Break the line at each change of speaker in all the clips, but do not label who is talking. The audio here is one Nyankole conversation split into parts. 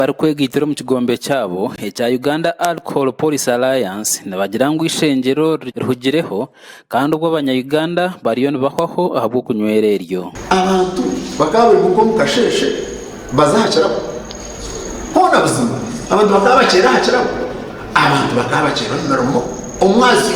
barikwega eitiro omu kigombe kyabo ekya Uganda Alcohol Policy Alliance nibagira ngu eishengyero rihugireho kandi obwo abanya Uganda bariyo nibahwaho ahabw'okunywera eryo Abantu
bakaba baimuka omu kasheeshe baza aha kirabo. Hoona buzima abantu bakaba bakyeera aha kirabo. Abantu bakaba bakyeera omu mirimo, omu mazyo.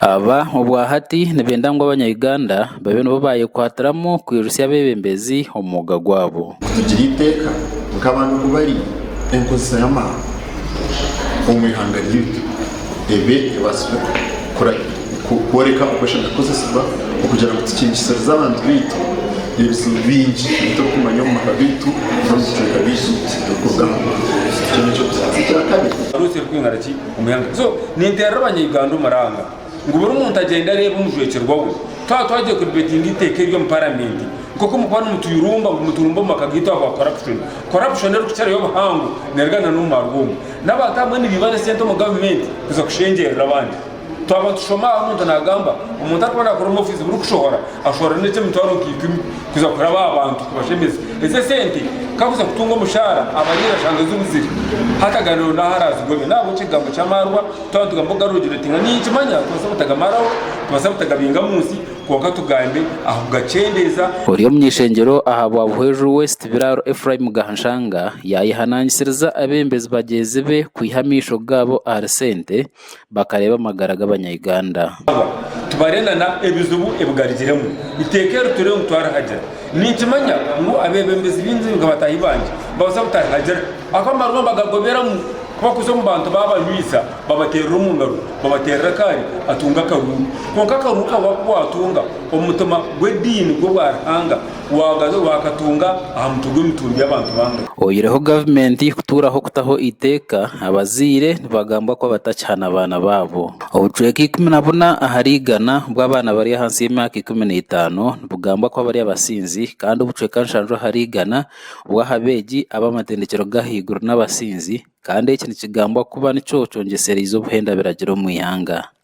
Aba obwa hati nibenda ngu Abanya-Uganda babe nibo baayekwatiramu kwirutsya abeebembezi omu mwooga gwaabo. Kutugira eiteeka
nk'abantu ku bari, enkozesa y'amaani omu ihanga ryaitu ebe ebaasire kworeka oku eshemeriire kukozesibwa okugira ngu tukiingisirize abantu baitu ebizibu bingi ebi turikumanya omu maka gaitu n'omu bicweka byaitu ebirikuruga aha mwoogo. Ekyo n'eky'okubanza. Ekya
kabiri. Omuyanga. So ninteerera abanyauganda omuranga ngu buri muntu agyende areebe omujwekyerwa we twaba twagiire kudibetinga eiteeka eri omu paramenti nk'oku mukuba nimutuyurumba ngu muturumbe omu maka gaitu ahabwa corruption. Corruption erikukirayo obuhango neruga na n'omu marwa omu n'abantu abamwe nibaiba n'esente omu gavumenti kuza kushengyerera abandi. Twaba nitushoma aha omuntu nagamba omuntu arikuba nakora omu ofiisi burikushohora Ashwara n'ekye mitwaro nka ikumi kuza kuraba aha bantu kubashemeza. Eze sente kakuza kutunga omushara abariire ashanga zibuzire. Hati agariro n'aha arazigobya. N'ahabw'ekyo ekigambo ky'amaarwa twaba nitugamba okugarura ogire oti nga niinye nkimanya tubaasa butagamaraho, tubaasa butagabinga mu nsi kwonka tugambe aha kugakyendeeza. Ori omu ishengyero
aha Bwabuhweju West Biraaro Ephraim Gahanshanga yayehanangisiriza abebembezi bagyezi be kwiha amaisho gaabo ahari sente bakareeba amagara g'abanya Uganda. Abo tubare na
na ebizibu ebigarukiremu iteeka eri turiho nitwarihagira. Ninkimanya ngu abebembezi baingi nka bataahi bangye nibabaasa kutarihagira ahu amarwa bagagoberamu kuba kuza omu bantu babanywisa babateerera omu ngaro, babateerera akaari atunga akaruuru. Kwonka akaruuru ka wakuba watunga omu mutima gw'ediini gw'obwa Ruhanga. Kuwagaza orwa Katonga aha mutwe gw'emitumbi y'abantu bangahi? Oyireho gavumenti
kutuuraho kutaho eiteeka, abazaire nibagambwa kuba batakihana baana baabo. Obucweka ikumi na buna ahari igana bw'abaana bari ahansi y'emyaka ikumi na etaano nibugambwa kuba bari abasinzi kandi obucweka nshanju ahari igana bw'aha beegi ab'amatendekyero g'ahaiguru n'abasinzi kandi eki nikigambwa kuba nikyo kyongyesereize obuhenda biragiro omu ihanga.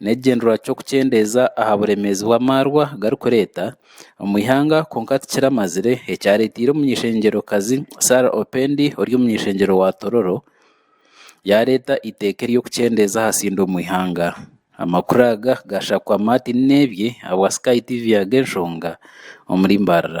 n'ekigyendererwa ky'okukyendeeza aha buremeezi obu amaarwa garikureeta omu ihanga kwonka tikiramazire ekyareeteire omunyeshengyerokazi Sarah Opendi ori omunyeshengyero wa Tororo yaareeta eiteeka ery'okukyendeeza ahasiinda omu ihanga. Amakuru aga gaashakwa Martin Nebye ahabwa Sky TV Ag'enshonga omuri Mbarara.